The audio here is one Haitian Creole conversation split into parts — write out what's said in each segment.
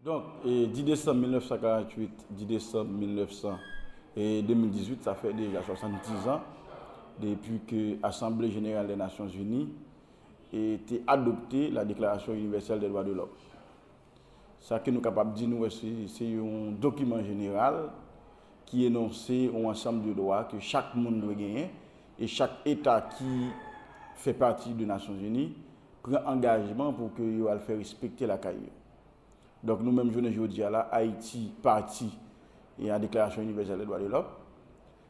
Donk, di desanm 1948, di desanm 192018, sa fè deja 70 zan depi ke Asanble Jeneral dè Nasyonzini te adopte la Deklarasyon Inivèsèl dè Dwa de Lòm. Sa ke nou kapab di nou wè se yon dokiman jeneral ki enonse yon ansanm de dwa ke chak moun dwe genyen e chak eta ki fè pati de Nasyonzini pran angajman pou ke yo al fè respekte lakay yo. Donk nou menm jounen jodi a la Ayiti pati a Deklarasyon Inivèsèl de Dwa de Lòm.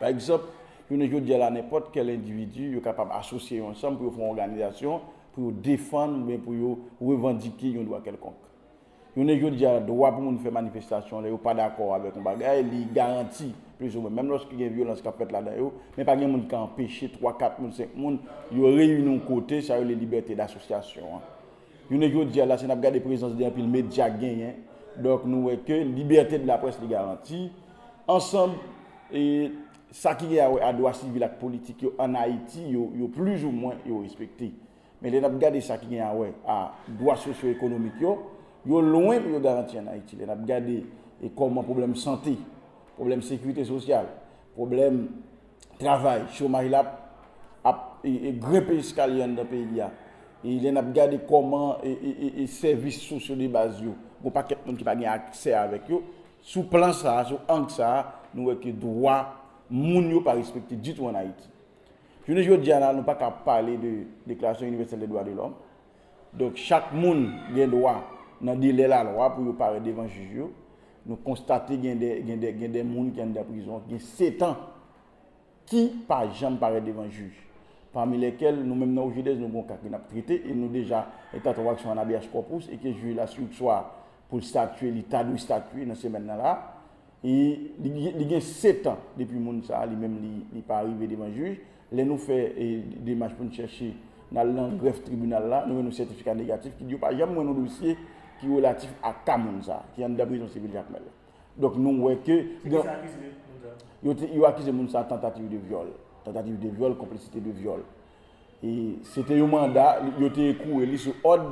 Pa egzanp, jounen jodi a la nenpòt kèl endividi yo kapab asosye yo ansanm pou yo fè yon òganizasyon pou yo defann oubyen pou yo revandike yon dwa kèlkonk. Jounen jodi a dwa pou moun fè manifestasyon lè yo pa dakò avèk yon bagay li garanti plizoumwen menm lòske gen vyolans k ap fèt ladan yo men pa gen moun ki ka anpeche twa kat moun senk moun yo reyini yon kote sa rele libète dasosyasyon an. Jounen jodi a la si n ap gade prezans 2 anpil medya k genyen, donk nou wè ke libète de la près li garanti, ansanm e sa ki gen a wè a dwa sivil ak politik yo ann Ayiti yo, yo plizoumwen yo respekte. Men lè n ap gade sa ki gen a wè a dwa sosyo ekonomik yo, yo lwen pou yo garanti ann Ayiti. Lè n ap gade e kòman pwoblèm sante, pwoblèm sekirite sosyal, pwoblèm. travay, chomaj la ap grenpe eskalye anndan peyi a. E lè n ap gade kòman sèvis sosyo de baz yo, gon pakèt moun ki pa gen aksè avèk yo, sou plan sa a, sou ang sa a, nou wè ke dwa moun yo pa respekte ditou an Ayiti. Jounen jodi a la, nou pa ka pale de deklarasyon inivèsèl de dwa de lòm. Donk chak moun gen dwa nan delè lalwa pou yo parèt devan jij yo. Nou konstate gen de gen de gen de moun ki anndan prizon ki gen setan ki pa janm parèt devan jij. Pami lèkèl nou menm nan Ojedèz nou gen yon ka ke nap trete e nou deja eta tranvaksyon an habeas corpus e ke jij la si ou swa pou l statye li ta dwe statye nan semèn nan la e li gen setan depi moun sa li menm li pa rive devan jij Lè nou fè demach pou n chèche nan al nan grèf tribinal la, nou jwenn yon sètifika negatif ki di yo pa janm wè yon dosye ki relatif ak ka moun sa ki anndan prizon sivil Jakmèl la. Donk nou wè ke gen. Se kisa yo akize moun sa? Yo te, yo akize moun sa tantativ de vyòl, tantativ de vyòl, konplisite de vyòl. E se te yon manda, yo te ekoure li sou òd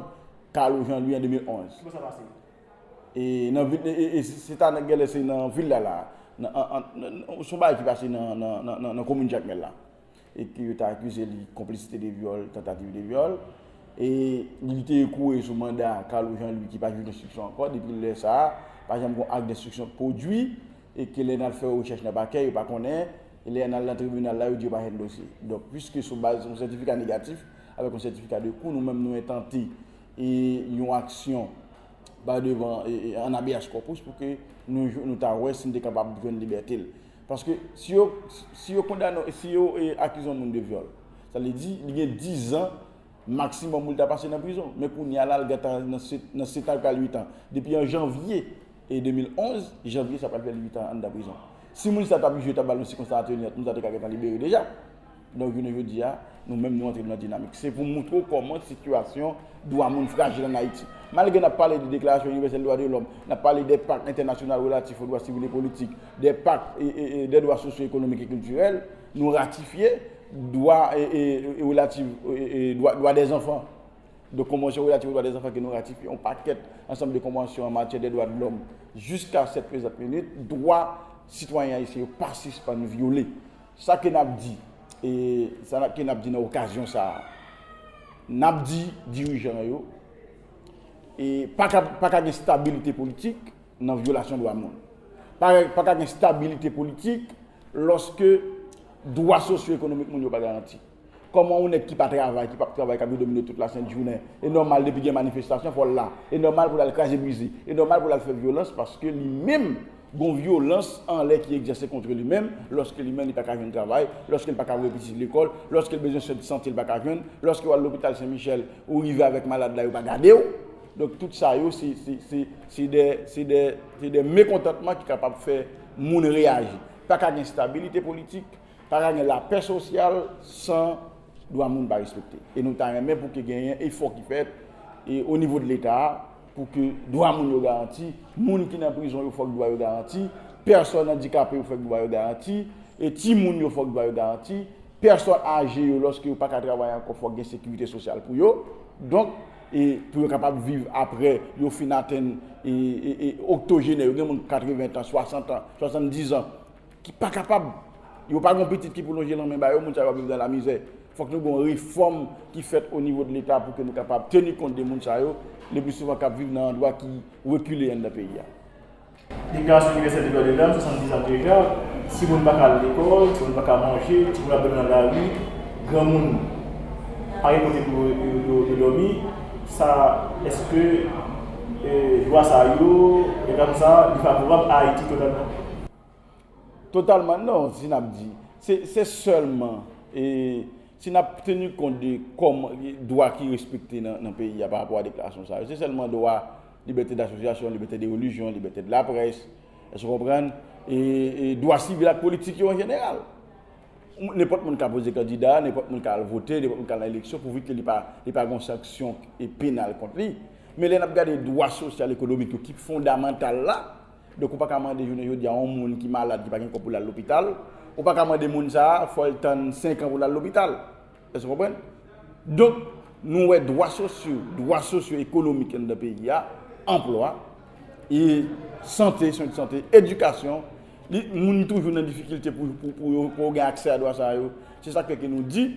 Carlo Jean Louis an 2011. Kibo sa pase? E nan vil e e se ta nan gèlè se nan vil la la nan an an nan nan son bagay ki pase nan nan nan nan nan komin jakmèl la e ke yo ta akize li konplisite de vyòl tantativ de vyòl e li te ekouye sou manda Carlo Jean Louis ki pa jwenn enstriksyon ankò depi lè sa pa janm gon ak denstriksyon k pwodui e ke lè nal fè rechèch nan pakè yo pa konnen e lè anal nan tribinal la yo di yo pa jwenn dosye donk pwiske sou baz yon sètifika negatif avèk yon sètifika de kou nou menm nou entante e yon aksyon ba devan an habeas corpus pou ke nou ta wè si li te kapab jwenn libète l. Paske si yo si yo kondane w si yo akize yon moun de vyòl sa vle di li gen dizan maksimòm pou l ta pase nan prizon men kounye a la l gentan nan setan pral uitan depi an janvye 2011 janvye sa pral fè l uitan anndan prizon si moun sa ta bije yo ta ba l yon sikonstans atènyant moun sa te ka gentan libere deja. Donk jounen jodi a, nou menm nou antre nan dinamik. Se pou moutre w kòman sitiyasyon dwa moun frajil ann Ayiti. Malgre n ap pale de Deklarasyon Inivèsèl Dwa de Lòm, n ap pale de Pak Entènasyonal Relatif o Dwa Sivil e Politik, de Pak de Dwa Sosyo Ekonomik e Kiltirèl, nou ratifye dwa relatif dwa dè zanfan, de Konvansyon Relatif o Dwa dè Zanfan ke nou ratifye, yon pakèt ansanm de konvansyon an matyè de dwa de lòm. Jiska sèt prezant minit, dwa sitwayen ayisyen yo pa sispann vyole. Sa ke n ap di? E sa ke n ap di nan okazyon sa a? N ap di dirijan yo e pa ka gen stabilite politik nan vyolasyon dwa moun. Pa ka gen stabilite politik lòske dwa sosyo-ekonomik moun yo pa garanti. Kòman yon nèg ki pa travay, ki pap travay kap vin domine tout la sent jounen. E nòmal depi gen manifestasyon fòl la. E nòmal pou lal kraze brize. E nòmal pou lal fè vyolans paske li menm gon vyolans anlè ki egzèse kontre li menm, lòske li menm li paka jwenn travay, lòske li paka voye pitit li lekòl, lòske li bezwen swen de sante li paka jwenn, lòske wal lopital sen michèl ou rive avèk malad la yo pa gadew. Donk tout sa yo se se se se dè se dè se dè mekontantman ki kapab fè moun reyaji. Paka gen stabilite politik, Pa ka gen lapè sosyal san dwa moun pa respekte. E nou ta renmen pou ke genyen efò ki fèt o nivo de leta a pou ke dwa moun yo garanti, moun ki nan prizon yo fòk dwa yo garanti, pèsòn andikape yo fòk dwa yo garanti, e ti moun yo fòk dwa yo garanti, pèsòn aje yo lòske yo pa ka travay ankò fòk gen sekirite sosyal pou yo. Donk e pou yo kapab viv apre yo fin atenn e oktojenè yo, gen moun 80 tan, 60 tan, 70 zan. ki pa kapab, yo pa gon pitit ki pou lonje lanmen ba yo, moun sa yo ap viv nan lamizè. Fòk nou gon refòm ki fèt o nivo de leta pou ke nou kapab teni kont de moun sa yo, le pli souvan kap viv nan andwa ki rekile anndan peyi a. Deklarasyon Inivèsèl de Dwa de Lòm, 70 ans plus tard, ti moun pa ka al lekòl, ti moun pa ka manje, ti moun ap dòmi nan lari, gran moun pa gen kote pou yo dòmi, sa eske dwa sa yo, egal pou sa, li favorab a Ayiti totalman? Totalman non, si n ap di. Se sèlman si n ap teni kont de dwa ki respekte nan peyi a parapò a deklarasyon sa yo. Se sèlman dwa libète dasosyasyon, libète de relijyon, libète de laprès, èske w konprann, e dwa sivil ak politik yo an jeneral. Nenpòt moun ka poze kandida, nenpòt moun ka al vote, nenpòt moun ka al nan eleksyon pouvi ke li pa gen yon sanksyon penal kont li. Men lè n ap gade dwa sosyal, ekonomik yo ki fondamantal la, Donk ou pa ka mande jounen jodi a yon moun ki malad, ki pa gen kòb pou l al lopital, ou pa ka mande moun sa a fò l tann senkan pou l al lopital. Èske w konprann? Donk, nou wè dwa sosyo, dwa sosyo ekonomik anndan peyi a, anplwa, e sante, swen sante, edikasyon, li, moun toujou nan difikilte pou yo, pou yo gen aksè a dwa sa yo. Se sa k fè ke nou di.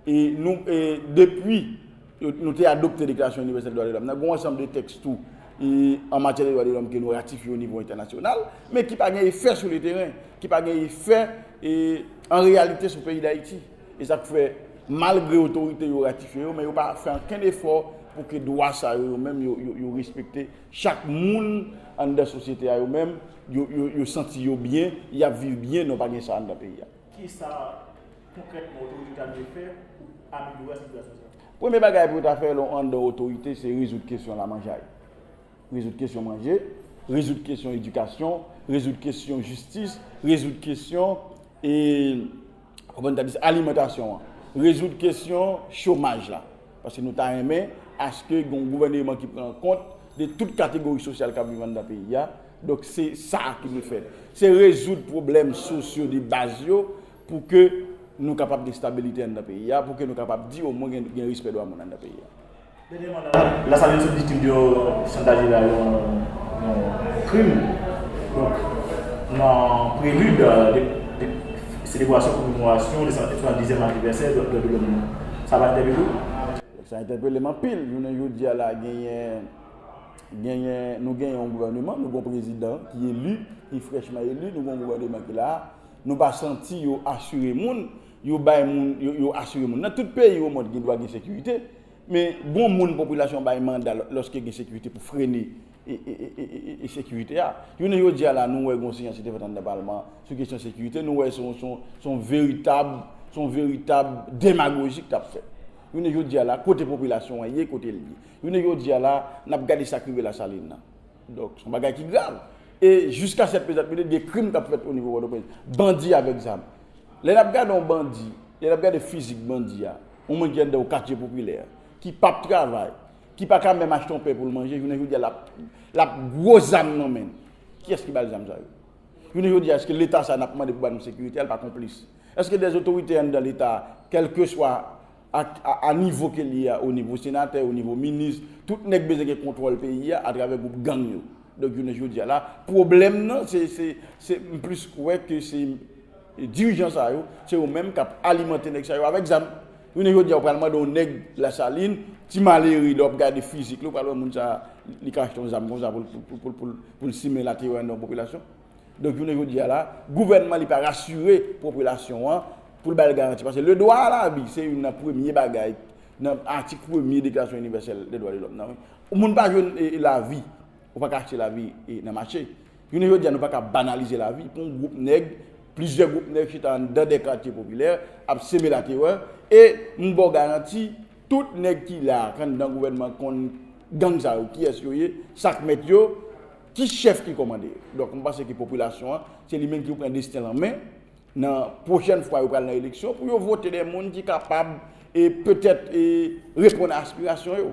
E nou, e depi nou te adopte Deklarasyon Inivèsèl Dwa de Lòm nan, gen yon ansanm de tèks tou an matyè de dwa de lòm ke nou ratifye o nivo entènasyonal, men ki pa gen efè sou le teren, ki pa gen efè an reyalite sou peyi Dayiti. E sa k fè, malgre otorite yo ratifye yo, men yo pa fè ankenn efò pou ke dwa sa yo yo menm yo respekte. Chak moun anndan sosyete a yo menm, yo santi yo byen, y ap viv byen, non pa gen sa anndan peyi a. Ki sa konkrètman otorite ta dwe fè pou amelyore sitiyasyon sa? Premye bagay pou yo ta fè lè w anndan otorite se rezoud kesyon lamanjay, rezoud kesyon manje, rezoud kesyon edikasyon, rezoud kesyon jistis, rezoud kesyon e kòman n ta di sa alimantasyon an, rezoud kesyon chomaj la. Paske nou ta renmen aske gen yon gouvèneman ki pran kont de tout kategori sosyal k ap viv anndan peyi a. Donk se sa ki dwe fèt. Se rezoud pwoblèm sosyo de baz yo. Pou ke nou kapab gen stabilite anndan peyi a, pou ke nou kapab di omwen gen respè dwa moun anndan peyi a. Dènyèman la, Lasalin sot viktim yon chantaj la, yon krim. Donk, nan prelid de selebrasyon komemorasyon 270 èm anivèsè dwa de lòm nan, sa pa entèpele w? Sa entèpele m anpil. Jounen jodi a la, genyen, genyen, nou genyen yon gouvèneman, nou gen yon prezidan ki eli, ki frèchman eli, nou gen yon gouvèneman ki la a. Nou pa santi yo asire moun, yo bay moun, yo asire moun. Nan tout peyi omond gen dwa gen sekirite, men gon moun popilasyon bay manda lòske gen sekirite pou frene sekirite a. Jounen jodi a la nou wè gon siyans ki te fèt anndan palman an sou kesyon sekirite, nou wè son veritab, son veritab demagoji ki tap fèt. Jounen jodi a la kote popilasyon an ye, kote l ye. Jounen jodi a la nap gade sak rive Lasalin nan. Donk, son bagay ki grav. E jiska sèt prezan, mete de krim kap fèt o nivo Pòtoprens. Bandi avèk zam. Lè nap gade yon bandi, lè nap gade fizik bandi a, yon moun ki anndan yon katye popilè, ki pap travay, ki pa ka menm achte yon pen pou l manje, jounen jodi a lap, lap gwo zam nan men l. Kiyès ki ba l zam sa yo? Jounen jodi a eske leta sa nap mande pou ba nou sekirite a li pa konplis? Eske dè zotorite anndan leta a, kèlkeswa ak a nivo ke li ye a, o nivo senatè, o nivo minis, tout nèg bezwen gen kontwòl peyi a atravè gwoup gang yo. Donk jounen jodi a la, pwoblèm nan se, se, se, m plis kwè ke se dirijan sa yo, se yo menm k ap alimante nèg sa yo avèk zam. Jounen jodi a ou pral mande yon nèg Lasalin, ti malere, lè w ap gade fizik li, ou pral wè moun sa a, li ka achte yon zam konsa pou l, pou l, pou l simen laterè anndan yon popilasyon? Donk jounen jodi a la, gouvènman li pa rasire popilasyon an pou l ba l garanti. Paske le dwa a la vi se youn nan premye bagay nan atik premye deklarasyon inivèsèl de dwa de lòm nan wi. Ou moun pa jwenn la vi, ou pa ka achte la vi nan mache. Jounen jodi a nou pa ka banalize la vi pou yon gwoup nèg, plizyè gwoup nèg chita anndan de katye popilè ap seme la terè. E m ba w garanti tout nèg ki la a anndan gouvènman konn gang sa yo kiyès yo ye, sa k mèt yo. Ki chèf ki kòmande? Donk mwen panse ke popilasyon an, se li menm ki pou pran desten l an men, nan pwochèn fwa yo pral nan eleksyon, pou yo vote de moun ki kapab e petèt e reponn a aspirasyon yo.